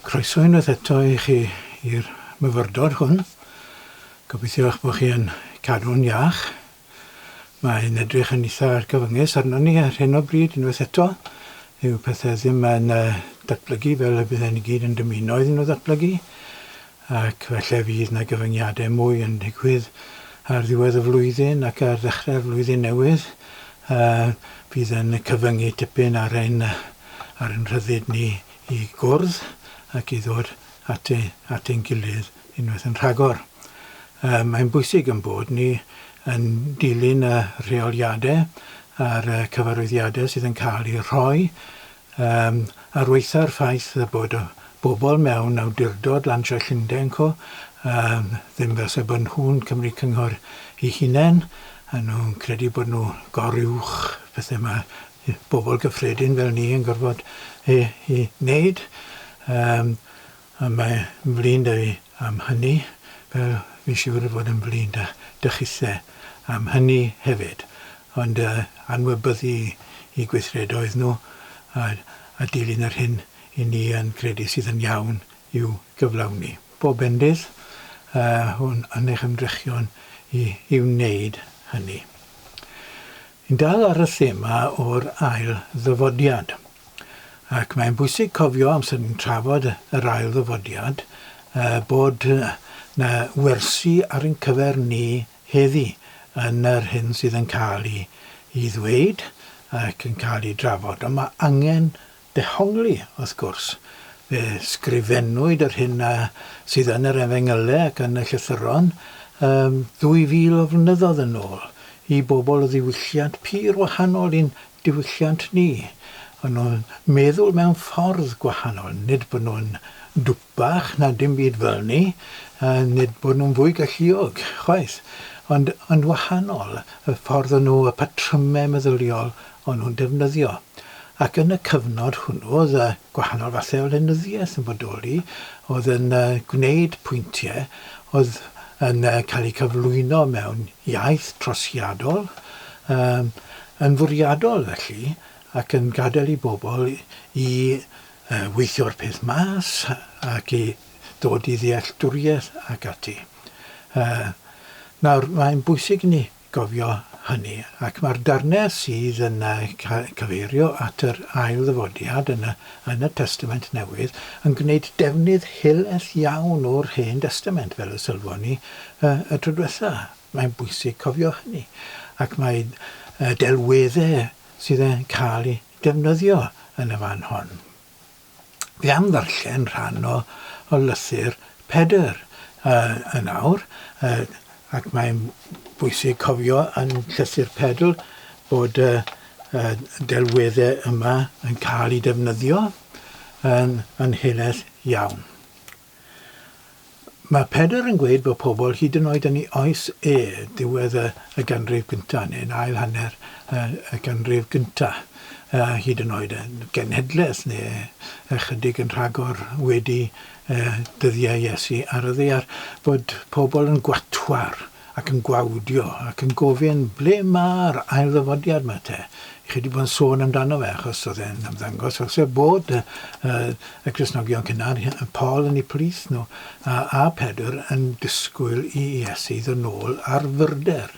Croeso unwaith eto i chi i'r myfyrdod hwn. Gobeithio eich bod chi yn cadw'n iach. Mae'n edrych yn eitha cyfyngus arno ni ar hyn o bryd unwaith eto. Yw pethau ddim yn uh, datblygu fel y bydden ni gyd yn dymuno iddyn nhw ddatblygu. ac falle fydd 'na gyfyngiadau mwy yn digwydd ar ddiwedd y flwyddyn ac ar ddechrau'r flwyddyn newydd yy fydd yn cyfyngu tipyn ar ein ar ein rhyddid ni i gwrdd ac i ddod at ei- at ein gilydd unwaith yn rhagor. Yy mae'n bwysig yn bod ni yn dilyn y rheoliadau a'r yy cyfarwyddiadau sydd yn cael eu rhoi Yym, ar waetha'r ffaith y bod y bobl mewn awdurdod lansio Llundain Co, yym, ddim fel 'se bod nhw'n Cymru Cynghor i hunain, a nhw'n credu bod nhw gor-uwch pethe ma' yy bobl gyffredin fel ni yn gorfod yy i wneud. Yym. A mae flin da fi am hynny, fel fi'n siŵr fod yn flin da 'da chithe am hynny hefyd, ond yy anwybyddu i gweithredoedd nhw a a dilyn yr hyn i ni yn credu sydd yn iawn i'w gyflawni. Bob bendydd yy yn yn eich ymdrechion i i wneud hynny. Yn dal ar y thema o'r ail ddyfodiad, Ac mae'n bwysig cofio, amser ni'n trafod yr ail ddyfodiad, bod 'na wersi ar ein cyfer ni heddi yn yr hyn sydd yn cael i i ddweud ac yn cael i drafod. Ond mae angen dehongli, wrth gwrs. Fe sgrifennwyd yr hyn a sydd yn yr Efengylau ac yn y Llythyron ddwy fil o flynyddoedd yn ôl i bobl o ddiwylliant pur wahanol i'n diwylliant ni. O'n nhw'n meddwl mewn ffordd gwahanol. Nid bod nhw'n dwpach na dim byd fel ni, a nid bod nhw'n fwy galluog, chwaith. Ond, yn wahanol, y ffordd o'n nhw, y patrymau meddyliol o'n nhw'n defnyddio. Ac yn y cyfnod hwnnw, oedd gwahanol fathau o lenyddiaeth yn bodoli, oedd yn gwneud pwyntiau oedd yn cael eu cyflwyno mewn iaith trosiadol, Yn fwriadol felly, ac yn gadael i bobl i weithio'r peth mas ac i ddod i ddealltwriaeth ac ati. Nawr, mae'n bwysig i ni gofio hynny, ac mae'r darnau sydd yn cyfeirio at yr ail ddyfodiad yn y Testament Newydd yn gwneud defnydd helaeth iawn o'r Hen Destament, fel y sylwon ni y tro diwetha'. Mae'n bwysig cofio hynny ac mae delweddau sydd yn cael eu defnyddio yn y fan hon. Dwi am ddarllen rhan o lythyr Pedr yn awr ac mae'n bwysig cofio yn llythyr Pedr bod y delweddau yma yn cael eu defnyddio yn helaeth iawn. Mae Pedr yn gweud bod pobl hyd yn oed yn ei oes e, diwedd y y ganrif gyntaf, neu'n ail hanner y y ganrif gyntaf, a hyd yn oed yn genhedlaeth neu ychydig yn rhagor wedi y dyddiau Iesu ar y ddaear, bod pobl yn gwatwar ac yn gwawdio ac yn gofyn ble ma'r ail ddyfodiad ma te? Chi di bod yn sôn amdano fe achos oedd e'n ymddangos fel sef bod y, uh, y Cresnogion cynnar, Paul yn ei plith nhw, a, a Pedr yn disgwyl i Iesu ddod nôl ar fyrder.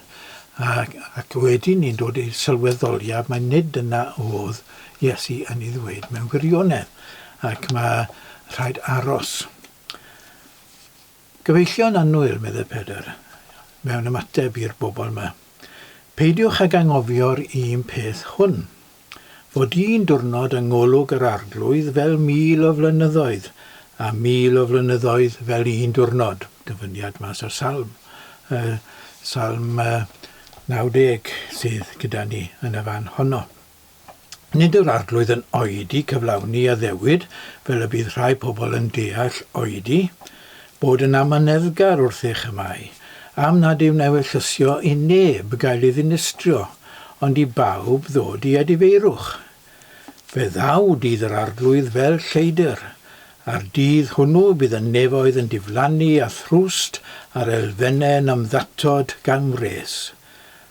Ac, ac wedyn ni'n dod i'r sylweddoliad mae nid yna oedd Iesu yn ei ddweud mewn gwirionedd ac mae rhaid aros. Gyfeillion annwyl, meddai Pedr, mewn ymateb i'r bobl 'ma. Peidiwch ag anghofio'r un peth hwn, fod un diwrnod yng ngolwg yr Arglwydd fel mil o flynyddoedd, a mil o flynyddoedd fel un diwrnod. Dyfyniad mas o'r Salm, yy, Salm yy, 90, sydd gyda ni yn y fan honno. Nid yw'r Arglwydd yn oedi cyflawni addewid fel y bydd rhai pobl yn deall oedi, bod yn amyneddgar wrth eich amau, am nad yw'n ewyllysio i neb gael ei ddinistrio, ond i bawb ddod i edifeirwch. Fe ddaw dydd yr Arglwydd fel lleidr, a'r dydd hwnnw bydd y nefoedd yn diflannu a thrwst a'r elfennau yn ymddatod gan wres.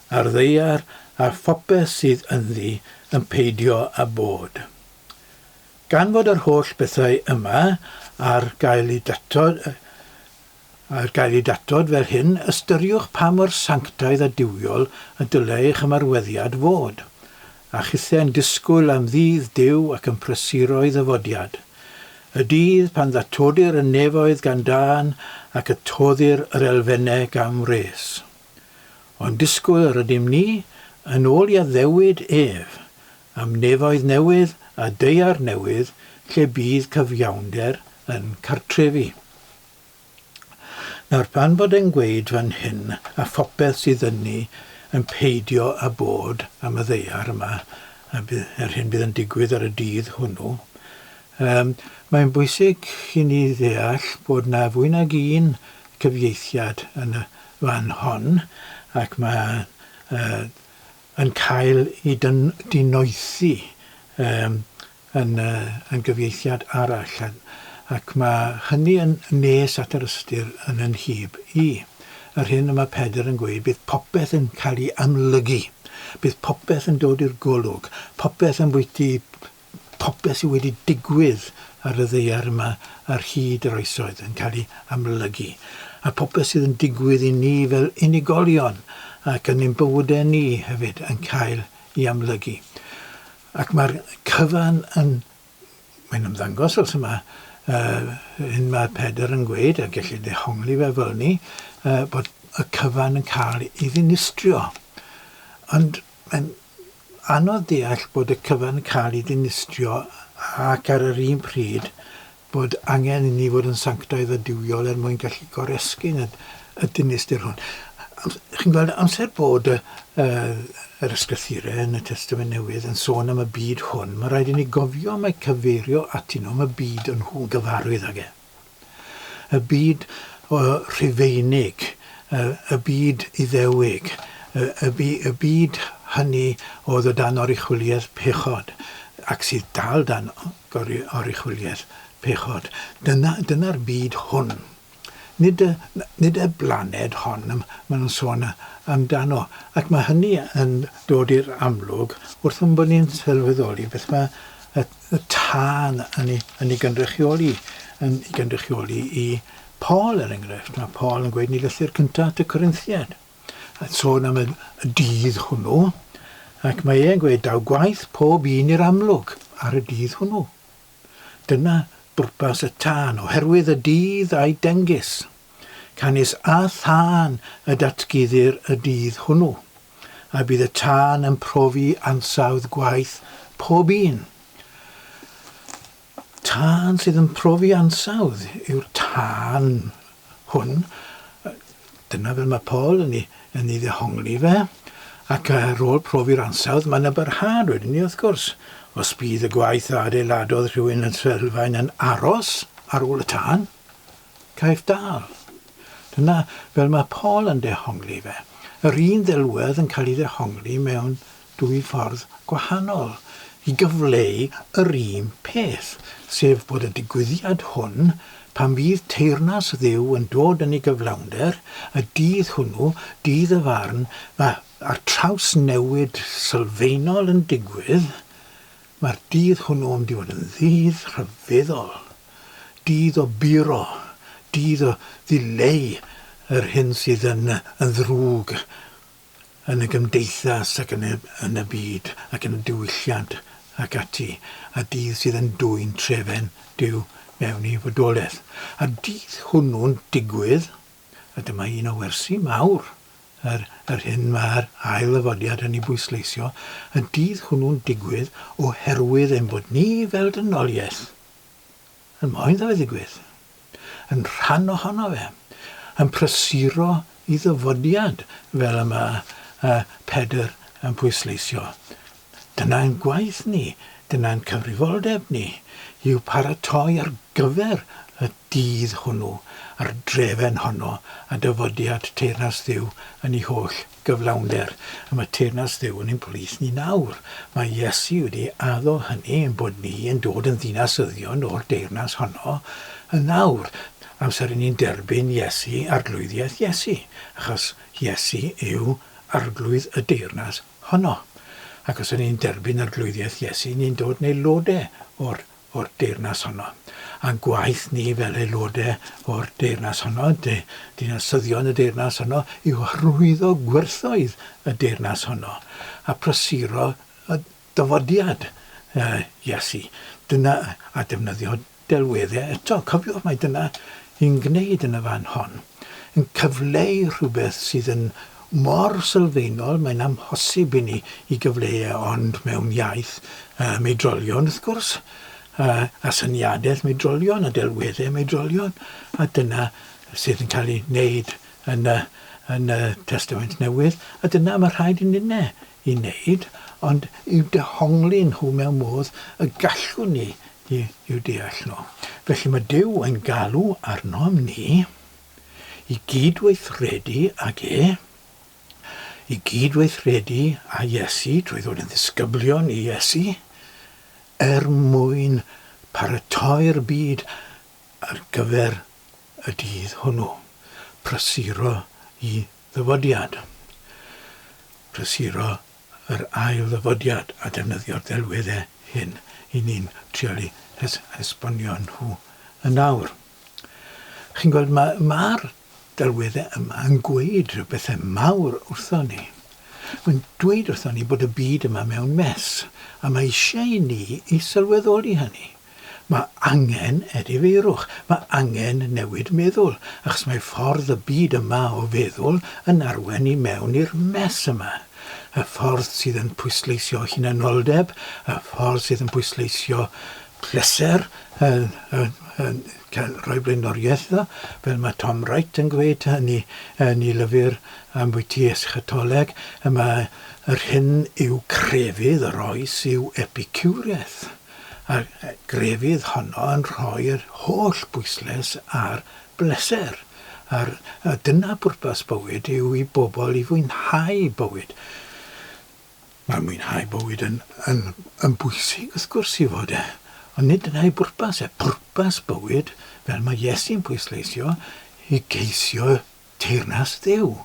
a'r ddaear a phopeth sydd ynddi yn peidio â bod. Gan fod yr holl bethau yma ar gael i datod, ar gael i datod fel hyn, ystyriwch pa mor sanctaidd a duwiol y dylai eich ymarweddiad fod, a chithau'n disgwyl am ddydd Duw ac yn prysuro ei ddyfodiad, y dydd pan ddatodir y nefoedd gan dân ac y toddir yr elfennau gan wres. Ond disgwyl yr ydym ni, yn ôl i addewid ef, am nefoedd newydd a daear newydd lle bydd cyfiawnder yn cartrefu. Nawr, pan fod e'n gweud fan hyn, a phopeth sydd yn ni yn peidio â bod am y ddaear yma, a bydd yr hyn bydd yn digwydd ar y dydd hwnnw, Yym, mae'n bwysig i ni ddeall bod 'na fwy nag un cyfieithiad yn y fan hon, ac mae yy yn cael ei dyn- dinoethi yym yn yy yn gyfieithiad arall, a ac mae hynny yn nes at yr ystyr yn 'y nhyb i'. Yr hyn y mae Pedr yn gweud, bydd popeth yn cael ei amlygu, bydd popeth yn dod i'r golwg, popeth yn bwyty popeth sydd wedi digwydd ar y ddaear yma ar hyd yr oesoedd yn cael ei amlygu, a phopeth sydd yn digwydd i ni fel unigolion ac yn ein bywydau ni hefyd yn cael ei amlygu. Ac mae'r cyfan yn... mae'n ymddangos os yma, yy, hyn mae Pedr yn gweud, a gellid dehongli fe fel ni, yy, bod y cyfan yn cael ei ddinistrio. Ond Mae'n anodd deall bod y cyfan yn cael ei ddinistrio ac ar yr un pryd bod angen inni fod yn sanctaidd a duwiol er mwyn gallu goresgyn y y dinistr hwn. Chi'n gweld, amser bod y y yr ysgrythure yn y Testament Newydd yn sôn am y byd hwn, mae'n rhaid inni gofio mai cyfeirio atyn nhw am y byd o'n nhw'n gyfarwydd ag e. Y byd Rhufeinig, y byd Iddewig, y byd hynny oedd o dan oruchwyliaeth pechod ac sydd dal dan oruchwyliaeth pechod. Dyna'r byd hwn. Nid y blaned hon maen nhw'n sôn amdano. Ac mae hynny yn dod i'r amlwg wrth ein bod ni'n sylweddoli beth mae y y tân yn ei, yn ei gynrychioli, yn ei gynrychioli i Paul, er enghraifft. Mae Paul yn gweud yn ei lythyr cyntaf at y Corinthiaid, a sôn am y, y dydd hwnnw, ac mae e'n gweud, daw gwaith pob un i'r amlwg ar y dydd hwnnw. Dyna bwrpas y tân, oherwydd y dydd a'i dengys. Canys â thân y datguddir y dydd hwnnw, a bydd y tân yn profi ansawdd gwaith pob un. Tân sydd yn profi ansawdd yw'r tân hwn. Dyna fel mae Paul yn ei, yn ei ddehongli fe. Ac ar ôl profi'r ansawdd, mae yna barhad wedyn ni, wrth gwrs. Os bydd y gwaith a adeiladodd rhywun yn Trelfaen yn aros ar ôl y tân, Caiff dal. Dyna fel mae Paul yn dehongli fe. Yr un ddelwedd yn cael ei ddehongli mewn dwy ffordd gwahanol i gyfleu yr un peth, sef bod y digwyddiad hwn, pan fydd teyrnas Dduw yn dod yn ei gyflawnder, y dydd hwnnw, dydd y farn, mae'r trawsnewid sylfaenol yn digwydd, mae'r dydd hwnnw yn mynd i fod yn ddydd rhyfeddol. Dydd o buro, dydd o ddileu yr hyn sydd yn ddrwg yn y gymdeithas ac yn y byd ac yn y diwylliant ac ati, a dydd sydd yn dwyn trefen Duw mewn i fodolaeth. A'r dydd hwnnw'n digwydd, a dyma un o wersi mawr yr hyn mae'r ail ddyfodiad yn ei bwysleisio, y dydd hwnnw'n digwydd oherwydd ein bod ni fel dynoliaeth yn moyn iddo fe ddigwydd, yn rhan ohono fe, yn prysuro i ddyfodiad fel y mae yy Pedr yn pwysleisio. Dyna'n gwaith ni, dyna'n cyfrifoldeb ni, yw paratoi ar gyfer y dydd hwnnw a'r drefen honno a dyfodiad teyrnas Dduw yn ei holl gyflawnder am y teyrnas Dduw yn ein plith ni nawr. Mae Iesu wedi addo hynny ein bod ni yn dod yn ddinasyddion o'r deyrnas honno yn awr, amser i ni'n derbyn Iesu, Arglwyddiaeth Iesu, achos Iesu yw Arglwydd y deyrnas honno. Ac os y'n ni'n derbyn Arglwyddiaeth Iesu, ni'n dod yn aelodau o'r o'r Deyrnas honno. A'n gwaith ni fel aelodau o'r Deyrnas honno, dy, dinasyddion y Deyrnas honno, yw hyrwyddo gwerthoedd y Deyrnas honno a phrysuro y dyfodiad Iesu. Dyna, a defnyddio delweddau eto. Cofiwch mai dyna yn gwneud yn y fan hon, yn cyfleu rhywbeth sydd yn mor sylfaenol, mae'n amhosib i ni i gyfleu e ond mewn iaith um, oedrolion wrth gwrs, a, a syniadaeth oedrolion, a delweddau oedrolion, a dyna sydd yn cael ei wneud yn y, yn y Testament Newydd, a dyna mae rhaid i ninne i wneud, ond i'w dehongli nhw mewn modd y gallwn ni i'w deall nhw. Felly mae Duw yn galw arnom ni i gyd-weithredu ag e, i gyd-weithredu â Iesu trwy ddod yn ddisgyblion i Iesu, er mwyn paratoi'r byd ar gyfer y dydd hwnnw, prysuro i Ddyfodiad, Prysuro yr ail ddyfodiad a defnyddio'r delweddau hyn i ni'n trial eu hesbonio nhw yn awr. Chi'n gweld, mae'r ma delweddau yma yn gweud rhywbethau mawr wrthon ni. Mae'n dweud wrthon ni bod y byd yma mewn mes, a mae eisiau i ni i sylweddoli hynny. Mae angen edifeirwch, mae angen newid meddwl, achos mae ffordd y byd yma o feddwl yn arwain i mewn i'r mess yma. Y ffordd sydd yn pwysleisio hunanoldeb, y ffordd sydd yn pwysleisio pleser, yn, yn, yn cael rhoi blaenoriaeth iddo, fel mae Tom Wright yn gweud yn ei, yn ei lyfr Ambwyty Eschatoleg, y mae yr hyn yw crefydd yr oes yw epicureaeth. A grefydd honno yn rhoi'r holl bwysles ar bleser, a'r a dyna pwrpas bywyd yw i bobl i fwynhau bywyd. Mae mwynhau bywyd yn yn yn bwysig wrth gwrs i fod e, ond nid dyna ei bwrpas e. Pwrpas bywyd, fel mae Iesu'n pwysleisio, i geisio teyrnas Dduw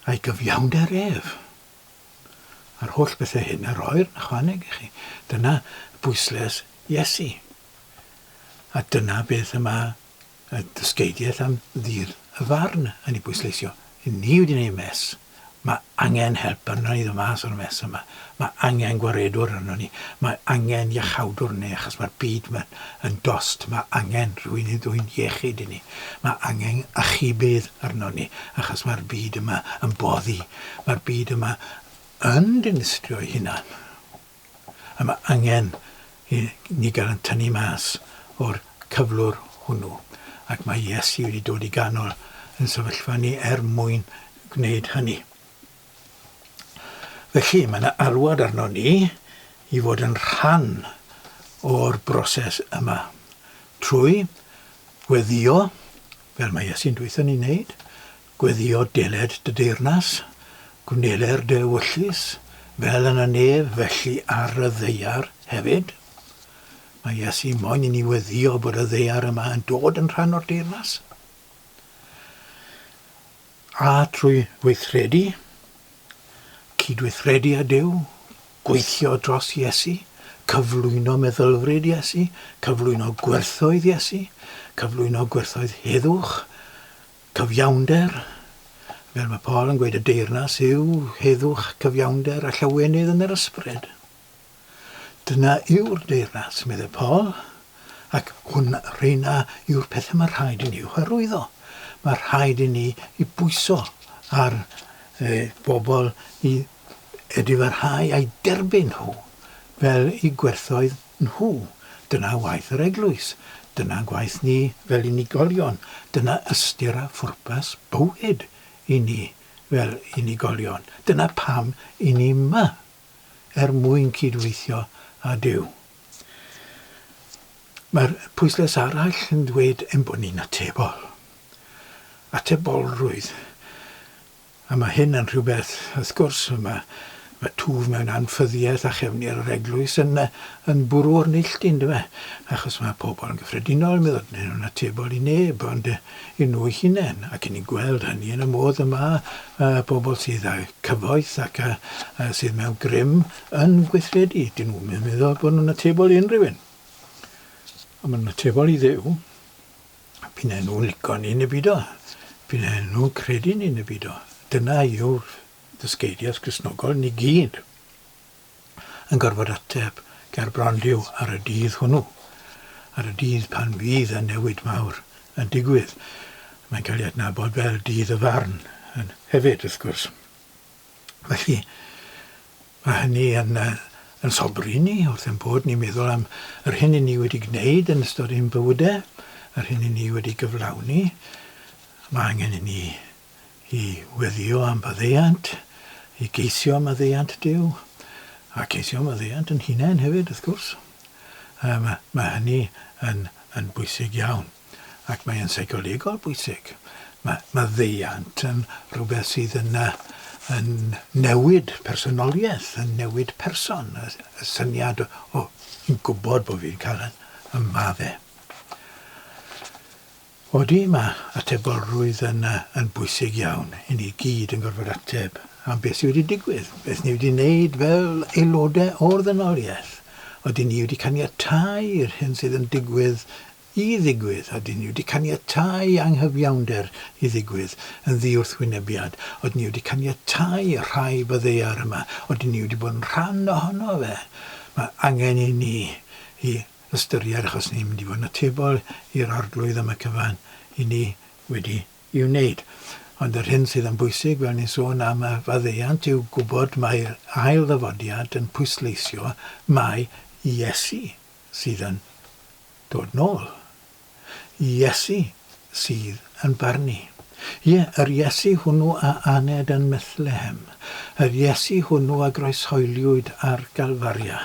a'i gyfiawnder ef. a'r holl bethau hyn a roer yn ychwaneg i chi. Dyna bwysles Iesu. A dyna beth y mae y dysgeidiaeth am ddir y farn yn ei bwysleisio. Ni wedi gwneud mes. Mae angen help arno ni ddod mas o'r mes yma. Mae angen gwaredwr arno ni. Mae angen iachawdwr arno ni achos mae'r byd yma yn dost. Mae angen rhywun i ddwy'n iechyd i ni. Mae angen achubydd arno ni achos mae'r byd yma yn boddi Mae'r byd yma yn dinistrio'i hunan, a mae angen i ni gael yn tynnu mas o'r cyflwr hwnnw, ac mae Iesu wedi dod i ganol yn sefyllfa ni er mwyn gwneud hynny. Felly, mae yna alwad arno ni i fod yn rhan o'r broses yma, trwy weddio, fel mae Iesu'n dweud ni wneud, Gweddïo deled dy deyrnas, gwneler dy ewyllys, fel yn y nef, felly ar y ddaear hefyd. Mae Iesu moyn i ni weddïo bod y ddaear yma yn dod yn rhan o'r deyrnas. A trwy weithredu, cydweithredu â Duw, gweithio dros Iesu, cyflwyno meddylfryd Iesu, cyflwyno gwerthoedd Iesu, cyflwyno gwerthoedd heddwch, Cyfiawnder, fel mae Paul yn gweud y deyrnas yw heddwch, cyfiawnder a llawenydd yn yr ysbryd. Dyna yw'r deyrnas, meddai Paul, ac hwn rheina yw'r pethau mae rhaid i ni i'w hyrwyddo. Mae rhaid i ni i bwyso ar e, bobl i edifarhau a'i derbyn nhw fel i gwerthoedd nhw. Dyna waith yr Eglwys. Dyna gwaith ni fel unigolion. Dyna ystyr a phwrpas bywyd i ni fel unigolion. Dyna pam i ni 'ma, er mwyn cyd-weithio â Duw. Mae'r pwyslais arall yn dweud ein bod ni'n atebol. Atebolrwydd. A mae hyn yn rhywbeth, wrth gwrs, mae mae twf mewn anffyddiaeth a chefndir yr eglwys yn yy yn bwrw o'r neilltu yndyw e? Achos mae pobl yn gyffredinol yn meddwl neu nhw'n atebol i neb ond yy i nhw eu hunain ac yn ni'n gweld hynny yn y modd y mae yy pobl sydd â'u cyfoeth ac yy yy sydd mewn grym yn gweithredu. Dyn nhw'm yn meddwl bod nhw'n atebol i unrhyw un. Ond maen nhw'n atebol i Dduw. Bydden nhw'n lico ni neu beidio. Bydden nhw'n credu ni neu beidio. Dyna yw'r ddysgeidiaeth Gristnogol ni gyd yn gorfod ateb ger bron Duw ar y dydd hwnnw, ar y dydd pan fydd y newid mawr yn digwydd. Mae'n cael ei adnabod fel Dydd y Farn hefyd, wrth gwrs. Felly, mae hynny yn yn sobri i ni wrth ein bod ni'n meddwl am yr hyn i ni wedi gwneud yn ystod ein bywydau, yr hyn i ni wedi gyflawni. Mae angen i ni i weddio am faddeuant, i geisio am maddeuant Duw, a ceisio am faddeuant yn hunain hefyd, wrth gwrs. Mae hynny yn yn bwysig iawn. ac mae e'n seicolegol bwysig. Mae maddeuant yn rhywbeth sydd yn yn newid personoliaeth, yn newid person, y syniad o fi'n gwybod bod fi'n cael y maddau. Odi, mae atebolrwydd yn yn bwysig iawn. I ni gyd yn gorfod ateb am beth sydd wedi digwydd, beth ni wedi wneud fel aelodau o'r ddynoliaeth. Odi ni wedi caniatáu i'r hyn sydd yn digwydd i ddigwydd, a dŷn ni wedi caniatáu anghyfiawnder i ddigwydd yn ddiwrthwynebiad, oedden ni wedi caniatáu rhai o ddaear yma, oedden ni wedi bod yn rhan ohono fe. Mae angen i ni i ystyried, achos ni'n mynd i fod yn atebol i'r Arglwydd am y cyfan i ni wedi ei wneud. Ond yr hyn sydd yn bwysig, fel ni'n sôn am y faddeuant, yw gwybod mai'r ail ddyfodiad yn pwysleisio mai Iesu sydd yn dod nôl. Iesu sydd yn barnu. Ie, yr Iesu hwnnw a aned yn Methlehem. Yr Iesu hwnnw a groeshoeliwyd ar Galfaria.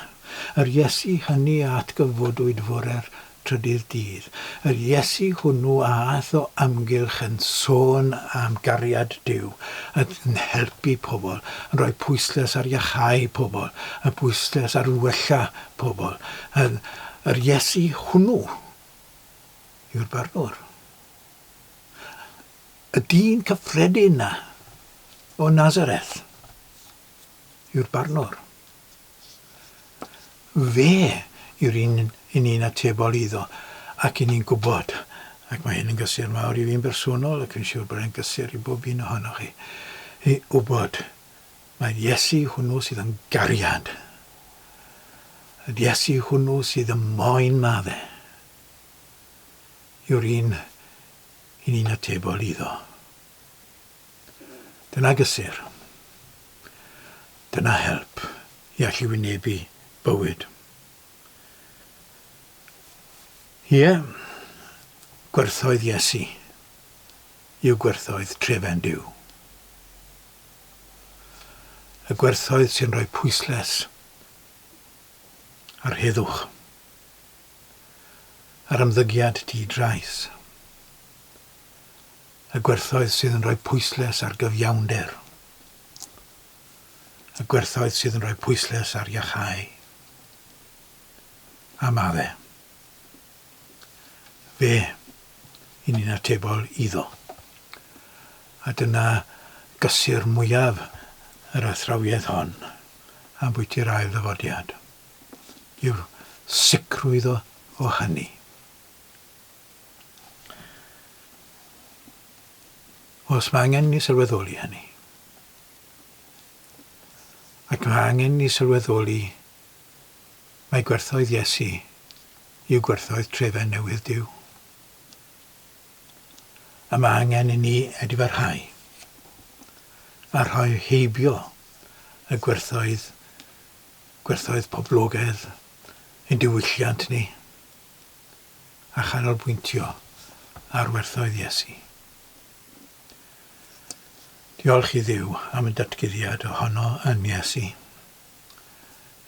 Yr Iesu hynny a atgyfodwyd fore'r trydydd dydd. Yr Iesu hwnnw a aeth o amgylch yn sôn am gariad Duw, yn helpu pobl, yn rhoi pwyslais ar iacháu pobl, yn bwyslais ar wella pobl, yn yr Iesu hwnnw yw'r Barnwr. Y dyn cyffredin na o Nazareth yw'r Barnwr. Fe yw'r un i ni'n atebol iddo ac i ni'n gwybod, ac mae hyn yn gysur mawr i fi'n bersonol ac fi'n siŵr bod e'n gysur i bob un ohonoch chi, i wybod Mae'r Iesu hwnnw sydd yn gariad. Yr Iesu hwnnw sydd ym moyn madde. Yw'r un i ni'n atebol iddo. Dyna gysur. Dyna help i allu wynebu bywyd. Ie, gwerthoedd Iesu. yw gwerthoedd trefen Duw. Y gwerthoedd sy'n rhoi pwysles ar heddwch, ar ymddygiad di-drais. Y gwerthoedd sydd yn rhoi pwysles ar gyfiawnder. Y gwerthoedd sydd yn rhoi pwysles ar iachau. A mae. fe, i ni'n atebol iddo. A dyna gysur mwyaf yr athrawiaeth hon ambwyti'r ail ddyfodiad, yw sicrwydd o o hynny. Os mae angen ni sylweddoli hynny, ac mae angen ni sylweddoli Mae gwerthoedd Iesu yw gwerthoedd trefen newydd Duw. Y mae angen i ni edifyrhau a rhoi heibio y gwerthoedd, gwerthoedd poblogaidd ein diwylliant ni a chanolbwyntio ar werthoedd Iesu. Diolch i Dduw am y datguddiad ohono yn Iesu.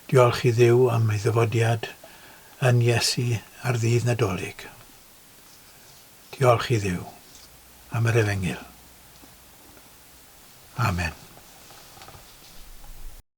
Diolch i Dduw am ei ddyfodiad yn Iesu ar Ddydd Nadolig. Diolch i Dduw am yr Efengyl. Amen.